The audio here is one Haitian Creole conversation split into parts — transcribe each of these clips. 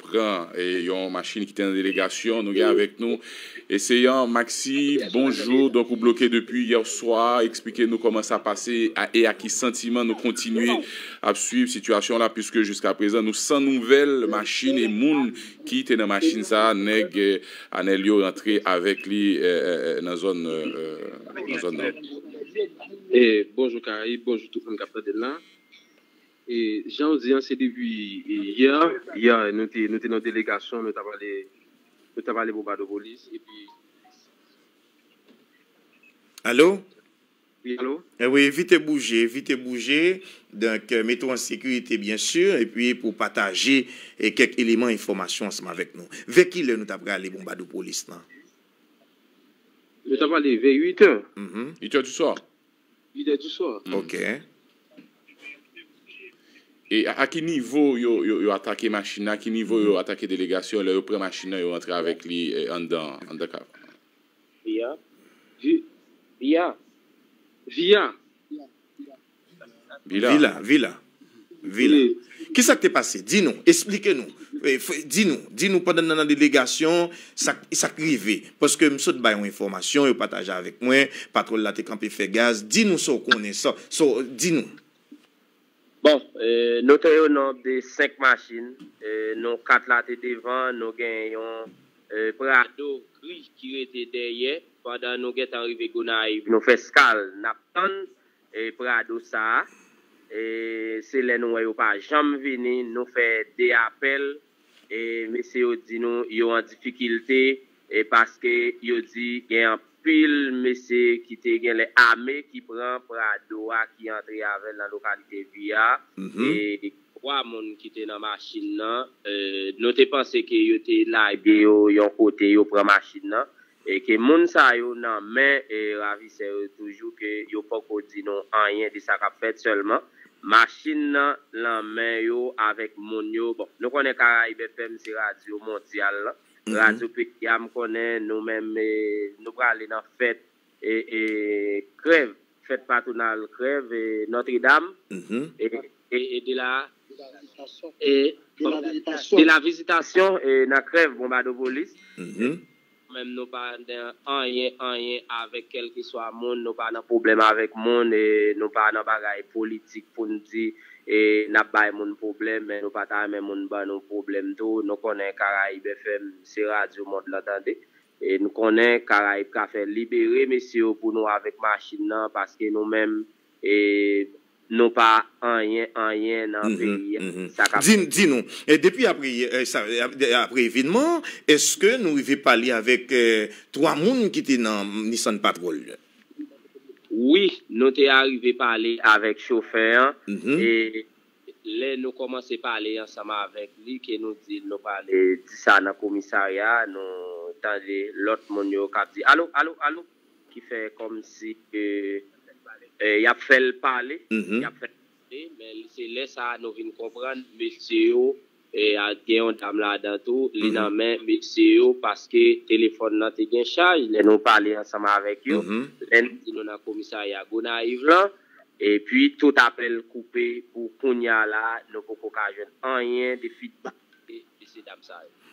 pran yon machine kite nan delegasyon nou gen avèk nou eseyan Maxi bonjour donk ou bloke depi yèswa eksplike nou kòman sa pase e a ki santiman nou kontinye ap swiv sitiyasyon la puiske jiska prezan nou san nouvèl machine e moun ki te nan machine sa nèg anèl yo rantre avèk li nan zòn nan zòn nan. Bonjou Karayib, bonjou tout moun kap tandem la. E janw di an se depi yè yè nou te nou te nan delegasyon nou tap ale nou tap ale Bobadopolis epi. Alo? Wi alo? Ewi evite bouje evite bouje donk mete w an sekirite byen si epi pou w pataje kèk eleman enfòmasyon ansanm avèk nou. Vè kilè nou ta prale Bonbadopolis lan? Nou ta prale vè 8 è. 8 è di swa. Lidè du sò. Ok. E a ki nivo yo yo atake machin nan, a ki nivo yo atake delegasyon an lè yo pran machin nan yo rantre avèk li anndan an, anndan ka. Vi a? Vi, vi a? Vi a? Vila. Vila, vila. Vila. Ki sa k te pase? Di nou, esplike nou, di nou, di nou pandan n nan delegasyon, sa k, sa k rive. Paske m sot bay yon enfòmasyon, yo pataje avèk mwen, patwòl la te kanpe fè gaz. Di nou sa w konnen, sa, sa w, di nou. Bon, nou te yon nonb de 5 machin. Nou 4 la te devan, nou gen yon Prado gri ki rete dèyè. Pandan nou gen tan rive Gonayiv, nou fè skal, n ap tann. E prado sa e se lè nou wè yo pa janm vini nou fè 2 apèl e mesye yo di nou yo an difikilte e paske yo di gen anpil mesye ki te genlè ame ki pran prado a ki antre avèl nan lokalite vi a e 3 moun ki te nan machin nan nou te panse ke yo te lage yo yon kote yo pran machin nan E ke moun sa yo nan men ravisè yo toujou ke yo poko di nou anyen de sa kap fèt sèlman machin nan lan men yo avèk moun yo bon nou konnen Caraïbes FM se radyo mondyal lan radyo peyi a m konnen nou menm nou prale nan fèt krèv fèt patronal krèv Notre Dame e de la. De la visitation nan krèv Bonbadopolis Nou menm nou pa nan anyen anyen avèk kèlkeswa moun nou pa nan pwoblèm avèk moun nou pa nan bagay politik pou nou di n ap bay moun pwoblèm men nou pa ta renmen moun ban nou pwoblèm tou nou konnen Caraïbes FM se radyo mond lan tande nou konnen Caraïbes cafè libere mesye yo pou nou avèk machin nan paske nou menm. E nou pa anyen anyen nan peyi a sa kap fèt. Di nou, depi apre evenman an, eske nou rive pale avèk 3 moun ki te nan Nissan Patrol yo? Wi, nou te arive pale avèk chofè an e lè nou kòmanse pale ansanm avèk li ke nou di l nou prale di sa nan komisarya a, nou tande lòt moun yo kap di, Alo, alo, alo! ki fè kòmsi ke y ap fè l pale, y ap fè l pale, men se lè sa a nou vin konprann mesye yo, gen yon dam ladan tou, li nan men mesye yo paske telefòn nan te gen chaj lè nou pale ansanm avèk yo, lè n di nou nan komisarya Gonayiv lan, epi tout apèl koupe pou kounya la a, nou poko ka jwenn anyen de fidbak.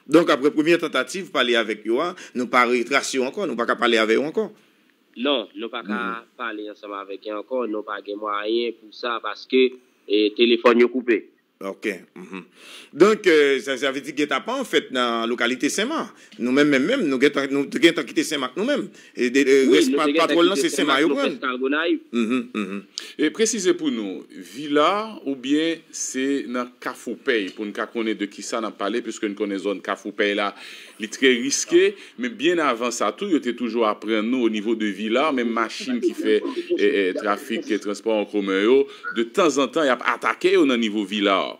Donk apre premyè tantativ pale avèk yo a, nou pa retrase yo ankò, nou pa ka pale avè yo ankò? Non, nou pa ka pale ansanm avèk yo ankò, nou pa gen mwayen pou sa paske telefòn yo koupe. Ok. Donk sa vle di getapan fèt nan lokalite Senma? Nou menm menm menm, nou gentan, nou te gentan kite Senmak nou menm. Rès patwòl lan se Senmak yo pran. Humm. Presize pou nou, Vila oubyen se nan Kafoupèy pou n ka konnen de ki sa n ap pale piske n konnen zòn Kafoupèy la li trè riske. Men byen avan sa tou yo te toujou aprann nou o nivo de Vila menm machin ki fè trafik transpò an komen yo de tanzantan y ap atake yo nan nivo Vila.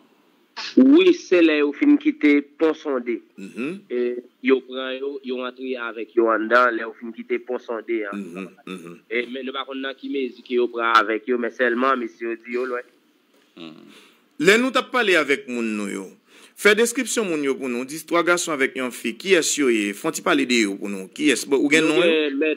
Wi se lè yo fin kite pon sonde yo pran yo yo antre avèk yo anndan lè yo fin kite pon sonde an men nou pa konn nan ki mezi ke yo pran avèk yo men sèlman mesye yo di yo lwen. Lè nou tap pale avèk moun nou yo. Fè deskripsyon moun yo pou nou di 3 gason avèk yon fi kiyès yo ye fon ti pale de yo pou nou kiyès ou gen non yo.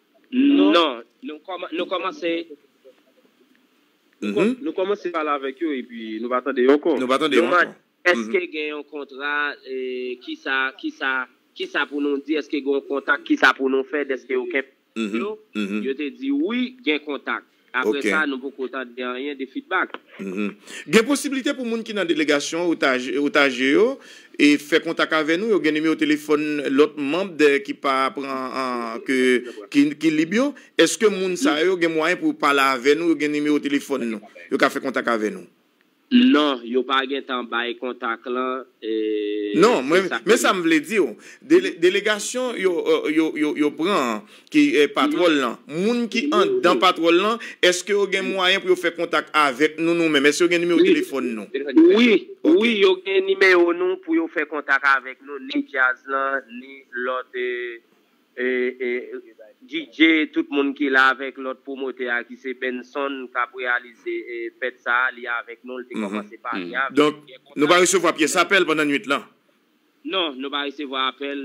Non, nou kòmanse. Nou kòmanse pale avèk yo epi nou pa tande yo ankò. Nou pa tande yo ankò. Nou mande, Èske gen yon kontra? Kisa, kisa, kisa pou nou di? Èske gen yon kontak? Kisa pou nou fè? Dèske yo kenbe yo? Yo te di, Wi, gen kontak. Apre sa, nou poko tande anyen de fidbak. Gen posiblite pou moun ki nan delegasyon otaje yo fè kontak avè nou? Yo gen nimewo telefòn lòt manm ki pa pran ki lib yo? Eske moun sa yo gen mwayen pou yo pale avè nou? Yo gen nimewo telefòn nou? Yo ka fè kontak avè nou? Non, yo pa gentan bay kontak lan Non, mwen, men sa m vle di w, dele, delegasyon yo, yo, yo, yo pran an, ki patwòl lan, moun ki anndan patwòl lan, èske yo gen mwayen pou yo fè kontak avèk nou, nou menm? Èske yo gen nimewo telefòn nou? Wi, wi, yo gen nimewo nou pou yo fè kontak avèk nou, ni djaz lan, ni lòt. DJ tout moun ki la avèk lòt pwomotè a ki se Benson k ap reyalize fèt sa a, li avèk nou, l te kòmanse pale avèk nou. Donk, nou pa resevwa pyès apèl pandan nuit lan? Non, nou pa resevwa apèl,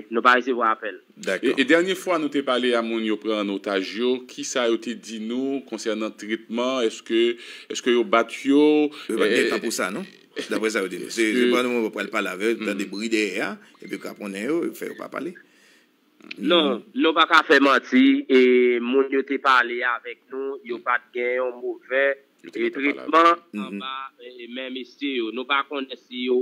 nou pa resevwa apèl. Dakò. E dènye fwa nou te pale a moun yo pran an otaj yo, ki sa yo te di nou konsènan tretman, èske yo bat yo? Yo pa t gen tan pou sa non. Daprè sa yo di nou. Se pandan moun yo pral pale avè yo, yo tande bri dèyè a, epi kraponnen yo, yo fè yo pa pale. Non, nou pa ka fè manti, e moun yo te pale avèk nou, yo pa t gen yon movè tretman anba men mesye yo. Nou pa konnen si yo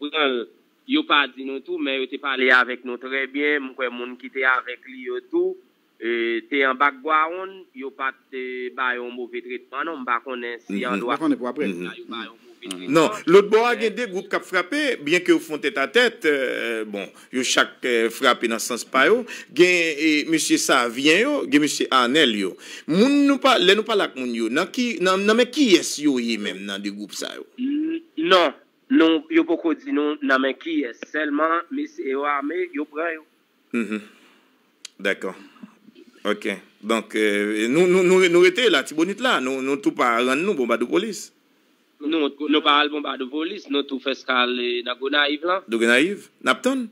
pran l, yo pa di nou tou, men yo te pale avèk nou trè byen, m kwè moun ki te avèk li yo tou. te anba k bwa wonn yo pat ba yon move tretman non m pa konnen si an dwa sa yo ba yon move tretman. Non, lòt bò a gen 2 gwoup k ap frape, byenke yo fon tèt a tèt, bon, yo chak frape nan sans pa yo, gen mesye Savyen yo, gen mesye Arnel yo. Moun nou pa, lè nou pale ak moun yo, nan ki, nan men kiyès yo ye menm nan 2 gwoup sa yo? Non, nou, yo poko di nou nan men kiyès, sèlman mesye yo ame, yo pran yo. Mph Dakò Ok Donk nou rete Latibonit la nou tou pa rann nou Bonbadopolis? Non nou pa al Bonbadopolis nou tou fè eskal nan Gonayiv lan. Gonayiv? N ap tann?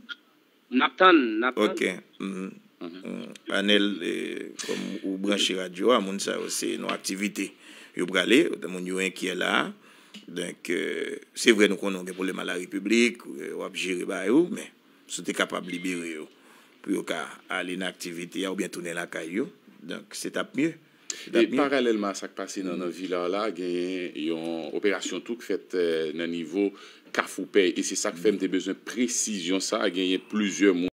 N ap tann n ap tann. Ok Mph Anèl kòm ou branche radyo a moun sa yo se nan aktivite yo prale moun yo enkyè la a donk se vre nou konnen ou gen pwoblèm alarepiblik w ap jere bagay ou men. Si w te kapab libere yo pou yo ka ale nan aktivite a oubyen tounen lakay yo, donk se t ap mye. E paralèlman a sa k pase nan nan Villar la, genyen yon operasyon tou k fèt nan nivo Kafoupèy e se sa k fè m te bezwen presizyon sa a, genyen plizyè moun.